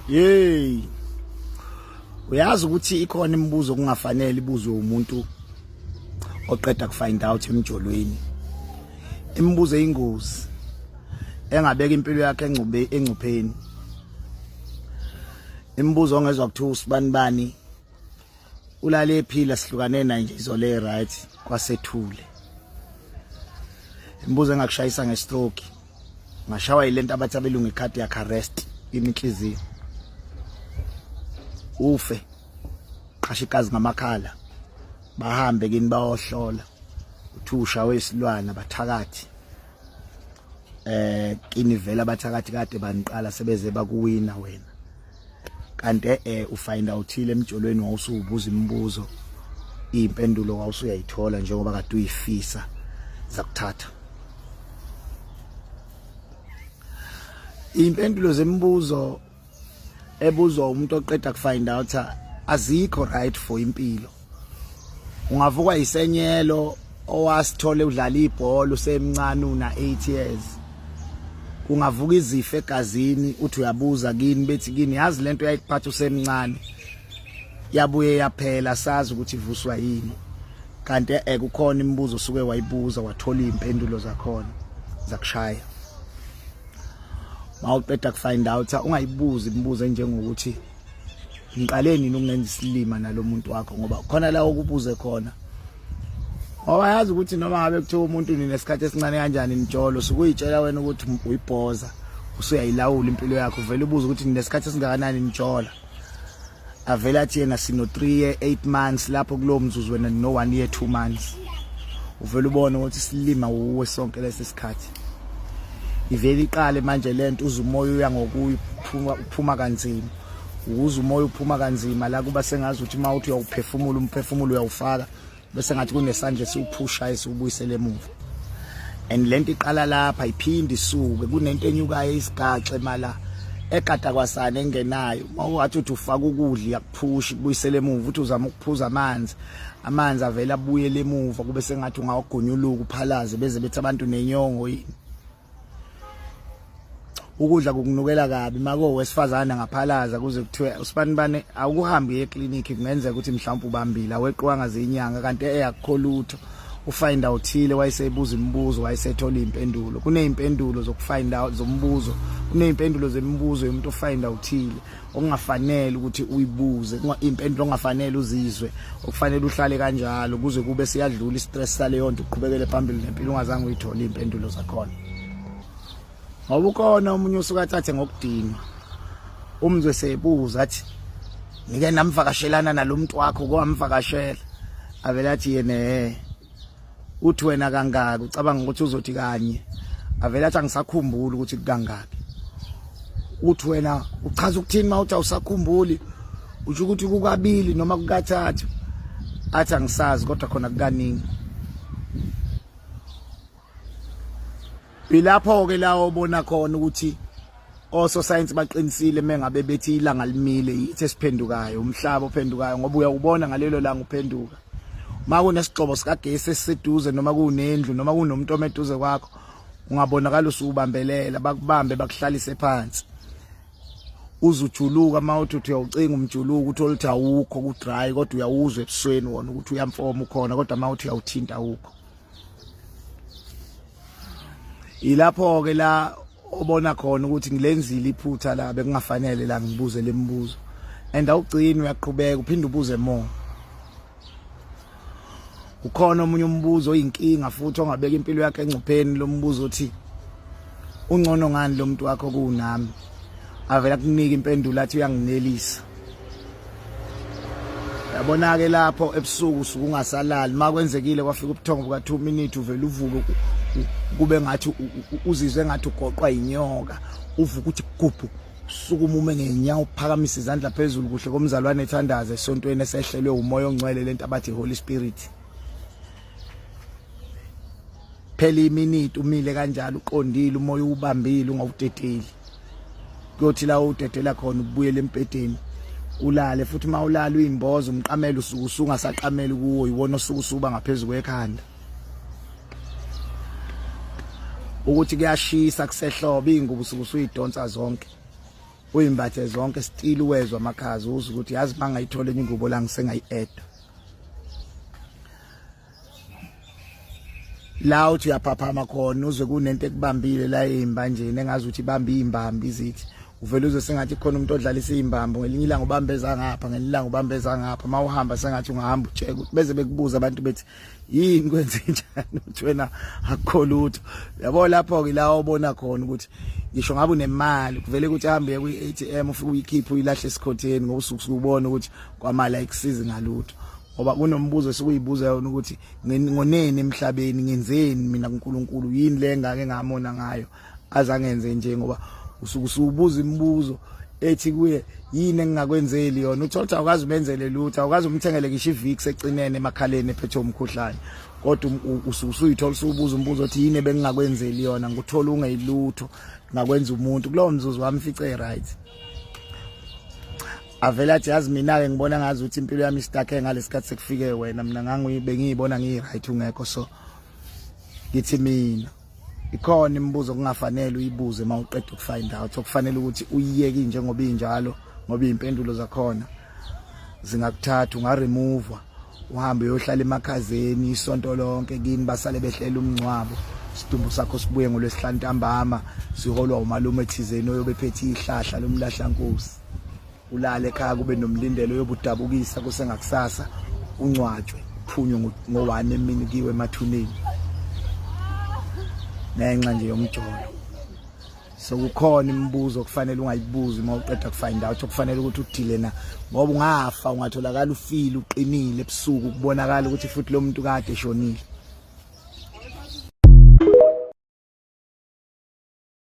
Yey. Uyazi ukuthi ikhona imibuzo kungafanele ibuzwe umuntu oqeda kufind out emjolweni. Imibuzo eyingozi engabeka impilo yakhe engcube engcupheni. Imibuzo ongezwe kuthiwa usibani bani ulale ephila sihlukane naye nje izole right kwasethule. Imibuzo engakushayisa ngestroke. ngashawa yilento abathi abelungu icardiac arrest iminhliziyo ufe qasha igazi ngamakhala bahambe kini bayohlola uthi ushawe isilwana bathakathi eh kini vela bathakathi kade baniqala sebeze bakuwina wena kanti eh ufind outhile emjolweni wawusubuza imibuzo impendulo wawusuyayithola njengoba kade uyifisa zakuthatha impendulo zemibuzo ebuzwa umuntu oqeda kufind out azikho right for impilo ungavukwa yisenyelo owasithole udlala ibhola usemncane una 8 years kungavuka izifo egazini uthi uyabuza kini bethi kini yazi lento yayikuphatha usemncane yabuye yaphela sazi ukuthi ivuswa yini kanti ekukhona eh, imibuzo osuke wayibuza wathola izimpendulo zakhona zakushaya mawuqeda kufind out ungayibuzi imibuzo enjengokuthi ngiqale nini ukungenza isilima nalomuntu wakho ngoba khona la okubuze khona ngoba yazi ukuthi noma ngabe kuthiwa umuntu nina esikhathi esincane kanjani nitsholo sukuyitshela wena ukuthi uyibhoza usuyayilawula impilo yakho uvele ubuze ukuthi nina esikhathi esingakanani nitshola avele athi yena sino 3 year 8 months lapho kulowo mzuzu wena no 1 year 2 months uvele ubone ukuthi silima wuwe sonke lesi sikhathi ivele iqale manje lento uze umoya uya ngokuyi uphuma uphuma kanzima ukuze umoya uphuma kanzima la kuba sengazi ukuthi uma uthi uyawuphefumula umphefumulo uyawufaka bese ngathi kunesandla esiwuphusha esiwubuyisele emuva and lento iqala lapha iphinde isuke kunento enyukayo isigaxe mala ekada kwasana engenayo uma uwathi uthi ufaka ukudla push kubuyisele emuva uthi uzama ukuphuza amanzi amanzi avela abuye lemuva kube sengathi ungawagonyuluka uphalaze beze bethi abantu nenyongo yini ukudla kukunukela kabi mako wesifazana ngaphalaza kuze kuthiwe usibani bani awukuhambi ye clinic kungenzeka ukuthi mhlawumbe ubambile aweqiwanga zinyanga kanti eyakho lutho ufind out thile wayesebuza imibuzo wayesethola impendulo kunezimpendulo zokufind out zombuzo kunezimpendulo zemibuzo yomuntu ofind out thile ongafanele ukuthi uyibuze impendulo ongafanele uzizwe okufanele uhlale kanjalo kuze kube siyadlula istress saleyo nto uqhubekele phambili nempilo ungazange uyithole impendulo zakhona ngoba ukhona umunye usuka athathe ngokudinwa umzwe sebuza athi ngike namvakashelana nalomuntu wakho kwamvakashela avela athi yena uthi wena kangaki ucabanga ukuthi uzothi kanye avele athi angisakhumbuli ukuthi kangaki uthi wena uchaza ukuthini mawuthi awusakhumbuli usho ukuthi kukabili noma kukathathu athi angisazi kodwa khona kukaningi Ilapho ke la obona khona ukuthi ososayensi baqinisile mengabe bethi ilanga limile yithi esiphendukayo umhlaba ophendukayo ngoba uyawubona ngalelo langa uphenduka uma kunesigxobo sikagesi esiseduze noma kunendlu noma kunomuntu omeduze kwakho ungabonakala usubambelela bakubambe bakuhlalise phansi uzujuluka uma uthi uthi uyawucinga umjuluko ukuthi oluthi awukho ku-dry kodwa uyawuzwa ebusweni wona ukuthi uyamfoma ukhona kodwa uma uthi uyawuthinta awukho yilapho ke la obona khona ukuthi ngilenzile iphutha la bekungafanele la ngibuze lemibuzo and awugcini uyaqhubeka uphinde ubuze more ukhona omunye umbuzo oyinkinga futhi ongabeka impilo yakhe engcupheni lombuzo othi ungcono ngani lomuntu wakho kunami avela kunika impendulo athi uyanginelisa yabona ke lapho ebusuku suku ungasalali makwenzekile kwafika ubuthongo buka 2 minutes uvela uvuke kube ngathi uzizwe ngathi ugoqwa inyoka uvuka ukuthi gubhu sukuma ume ngenyawo phakamise izandla phezulu kuhle komzalwane ethandaze esontweni esehlelwe umoya ongcwele lento abathi holy spirit phela iminute umile kanjalo uqondile umoya ubambile ungawudedeli kuyothi la udedela khona ubuyele empedeni ulale futhi uma ulala uyimboza umqamela usuku usunga saqamela kuwo yiwona osuku usuba ngaphezulu kwekhanda ukuthi kuyashisa kusehlobo izingubo usuku usuyidonsa zonke uyimbathe zonke still uwezwa amakhaza uza ukuthi yazi mangayithola enye ingubo la ngisengayi-eda la uthi uyaphaphama khona uzwe kunento ekubambile la eimbanjeni engazi ukuthi ibambe imbambi izithi uvele uzwe sengathi khona umuntu odlalisa imbambo ngelinye ilanga ubambeza ngapha ngelinye ilanga ubambeza ngapha mawuhamba sengathi ungahamba ujeke ukuthi beze bekubuza abantu bethi yini kwenze njani uthi wena akukholutho yabo lapho ke la obona khona ukuthi ngisho ngabe unemali kuvele ukuthi ahambe kwi ATM ufike uyikhiphe uyilahle esikhotheni ngoba usuku ubona ukuthi kwamali ayikusizi ngalutho ngoba kunombuzo esikuyibuza yona ukuthi ngoneni emhlabeni ngenzeni mina kuNkulunkulu yini le ngake ngamona ngayo azangenze nje ngoba usuke usubuza imibuzo ethi kuye yini engingakwenzeli yona uthola ukuthi awukazi umenzele lutho awukazi umthengele ngisho ivix ecinene emakhaleni ephethe umkhuhlane kodwa um, usuke usuyithola usubuza umbuzo othi yini bengingakwenzeli yona nguthola ungeyilutho ngakwenza umuntu kulowo mzuzu wami fice right avele athi yazi mina-ke ngibona ngazi ukuthi impilo yami istakhe ngalesi khathi sekufike wena mina ngangibengiyibona ngiyi-right ungekho so ngithi mina ikhona imibuzo kungafanele uyibuze uma uqeda ukufind out okufanele ukuthi uyiyeki njengoba injalo ngoba iy'mpendulo zakhona zingakuthatha ungaremuvwa uhambe uyohlala emakhazeni isonto lonke kini basale behlela umngcwabo isidumbu sakho sibuye ngolwesihlanu ntambama siholwa umalume thizeni oyobephethe ihlahla lomlahlankosi ulale ekhaya kube nomlindelo yobudabukisa kusengakusasa uncwatshwe uphunywe ngo-one emini kiwe emathuneni ngenxa nje yomjolo so kukhona imibuzo okufanele ungayibuzi uma uqeda kufind out okufanele ukuthi udile na ngoba ungafa ungatholakala ufile uqinile ebusuku kubonakala ukuthi futhi lo muntu kade eshonile